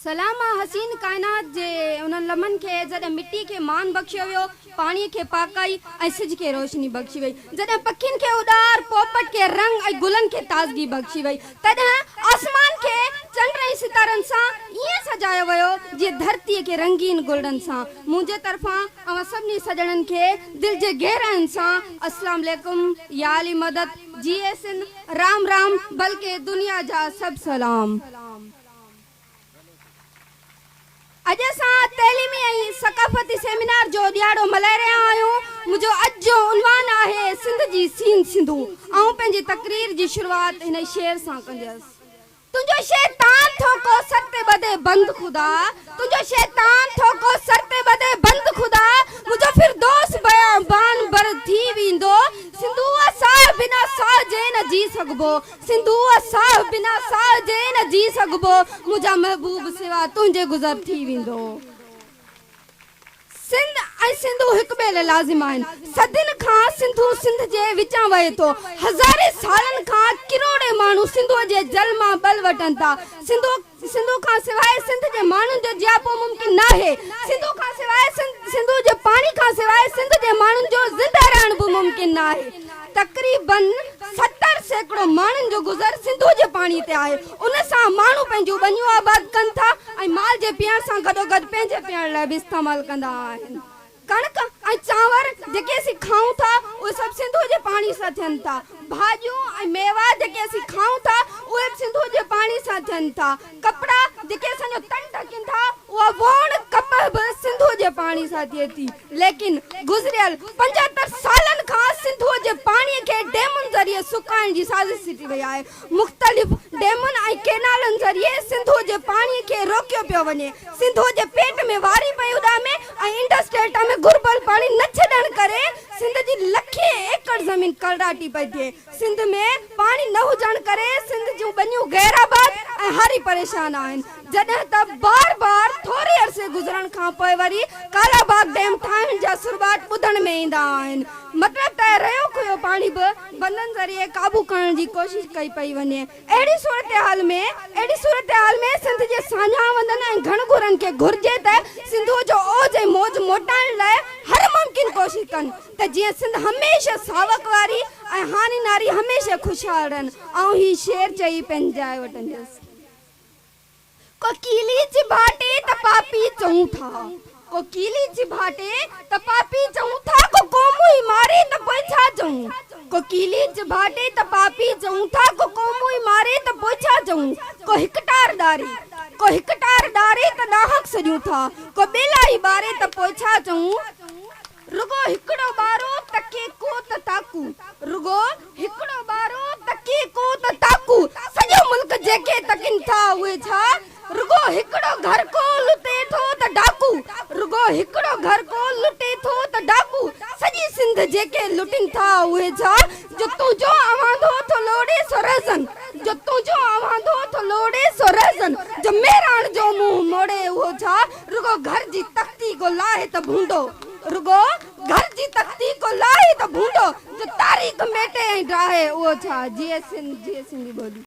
سلامه حسين ڪائنات جي انهن لمحن کي جڏهن مٽي کي مان بخشيو ويو، پاڻي کي پاڪائي ۽ سج کي روشني بخشي وئي، جڏهن پکين کي اڏار، پوپٽ کي رنگ ۽ گلن کي تازگي بخشي وئي، تڏهن آسمان کي چنڊ ۽ ستارن سان ائين سجايو ويو جيئن ڌرتي کي رنگين گلڙن سان. منهنجي طرفان اوهان سڀني سڄڻن کي دل جي گهرائين سان السلام عليڪم، يا علي مدد، جيئي سنڌ، رام رام، بلڪه دنيا جا سڀ سلام. اڄ اسان تعليمي ۽ ثقافتي سيمينار جو ڏيهاڙو ملهائي رهيا آهيون. منهنجو اڄ جو عنوان آهي سنڌ جي سين سنڌو. آئون پنهنجي تقرير جي شروعات هن شعر سان ڪنديس. تنهنجو شيطان ٿو ڪو سر تي ٻڌي بند خدا تنهنجو شيطان ٿو ڪو سر تي ٻڌي بند خدا منهنجو فردوس بيابان بر ٿي ويندو سنڌوء ساهه بنا ساهه جي نه جي سگهبو سنڌوء ساهه بنا ساهه جي نه جي سگهبو منهنجا محبوب سوا تنهنجي گذر ٿي ويندو سنڌ ۽ سنڌو هڪ ٻئي لاء لازم آهن صدين کان سنڌو سنڌ جي وچان وهي ٿو هزارين سالن کان ڪروڙين ماڻهو سنڌوء جي جل مان ٻل وٺن ٿا سنڌو سنڌو کان سواء سنڌ جي ماڻهن جو جياپو ممڪن ناهي، سنڌو کان سواء سنڌ، سنڌو جي پاڻي کان سواء سنڌ جي ماڻهن جو زنده رهڻ به ممڪن ناهي. تقريباً ستر سيڪڙو ماڻهن جو گذر سنڌو جي پاڻي تي آهي، ان سان ماڻهو پنهنجون ٻنيون آباد ڪن ٿا ۽ مال جي پيئڻ سان گڏوگڏ پنهنجي پيئڻ لاء به استعمال ڪندا آهن. ڪڻڪ ۽ چانور جيڪي اسين کائون ٿا اهي سڀ سنڌوء جي پاڻي سان ٿين ٿا. ڀاڄيون ۽ ميوا جيڪي اسين کائون ٿا اهي به سنڌوء جي پاڻي سان ٿين ٿا. ڪپڙا جيڪي اسان جو تن ڍڪين ٿا اها ووڻ ڪپهه به سنڌوء جي پاڻي سان ٿئي ٿي. ليڪن گذريل پنجهتر سالن کان سنڌوء جي پاڻي کي ڊيمن ذريعي سڪائڻ جي سازش سٽي وئي آهي. مختلف ڊيمن ۽ ڪينالن ذريعي سنڌو جي پاڻي کي روڪيو پيو وڃي، سنڌو جي پيٽ ۾ واري پئي اڏامي ۽ انڊس ڊيلٽا ۾ گهربل پاڻي نه ڇڏڻ ڪري سنڌ جي لکين ايڪڙ زمين ڪلراٽي پئي ٿئي، سنڌ ۾ پاڻي نه هجڻ ڪري سنڌ جون ٻنيون غير آباد ۽ هاري پريشان آهن، جڏهن ته بار بار ٿوري عرصي گذرڻ کان پوء وري ڪالاباغ ڊيم ٺاهڻ جا سرٻاٽ ٻڌڻ ۾ ايندا آهن، مطلب ته ريو کهيو پاڻي به بندن ذريعي قابو ڪرڻ جي ڪوشش ڪئي پئي وڃي اهڙي صورتحال ۾ اهڙي صورتحال ۾ سنڌ جي ساڃاهوندن ۽ گهڻ گهرن کي گهرجي ته سنڌوء جو اوج ۽ موج موٽائڻ لاء هر ممڪن ڪوشش ڪن ته جيئن سنڌ هميشه ساوڪ واري ۽ هاڻي ناري هميشه خوشحال رهن آئون هي شعر چئي پنهنجي جاء وٽنديس. ڪوڪيلي جي ڀاٽي ته پاپي چئون ٿا ڪوڪيلي جي ڀاٽي ته پاپي چئون ٿا ڪو قوم ئي ماري ته پوء ڇا چئون ڪوڪيلي جي ڀاٽي ته پاپي چئون ٿا ڪو قوم ئي ماري ته پوء ڇا چئون ڪو هڪ ٽار ڏاري ڪو هڪ ٽار ڏاري ته ڏاهڪ سڏيون ٿا ڪو ٻيلا ئي ٻاري ته پوء ڇا چئون. رڳو هڪڙو ٻارو تڪي ڪو ته تاڪون رڳو هڪڙو ٻارو تڪي ڪو ته تاڪون سڄو ملڪ جيڪي تڪين ٿا اهي ڇا رڳو هڪڙو گهر ڪو لٽي ٿو ته ڊاڪو رڳو هڪڙو گهر ڪو لٽي ٿو ته ڊاڪو سڄي سنڌ جيڪي لٽين ٿا اهي ڇا جو تنهنجو اواندو ٿو لوڙي سو رهزن جو تنهنجو اواندو ٿو لوڙي سو رهزن جو مهراڻ جو منهن موڙي اهو ڇا رڳو گهر جي تختي ڪو لاهي ته ڀونڊو رڳو گهر جي تختي ڪو لاهي ته ڀونڊو جو تاريخ ميٽي ۽ ڊاهي اهو ڇا جيئي سنڌ جيئي سنڌي ٻولي.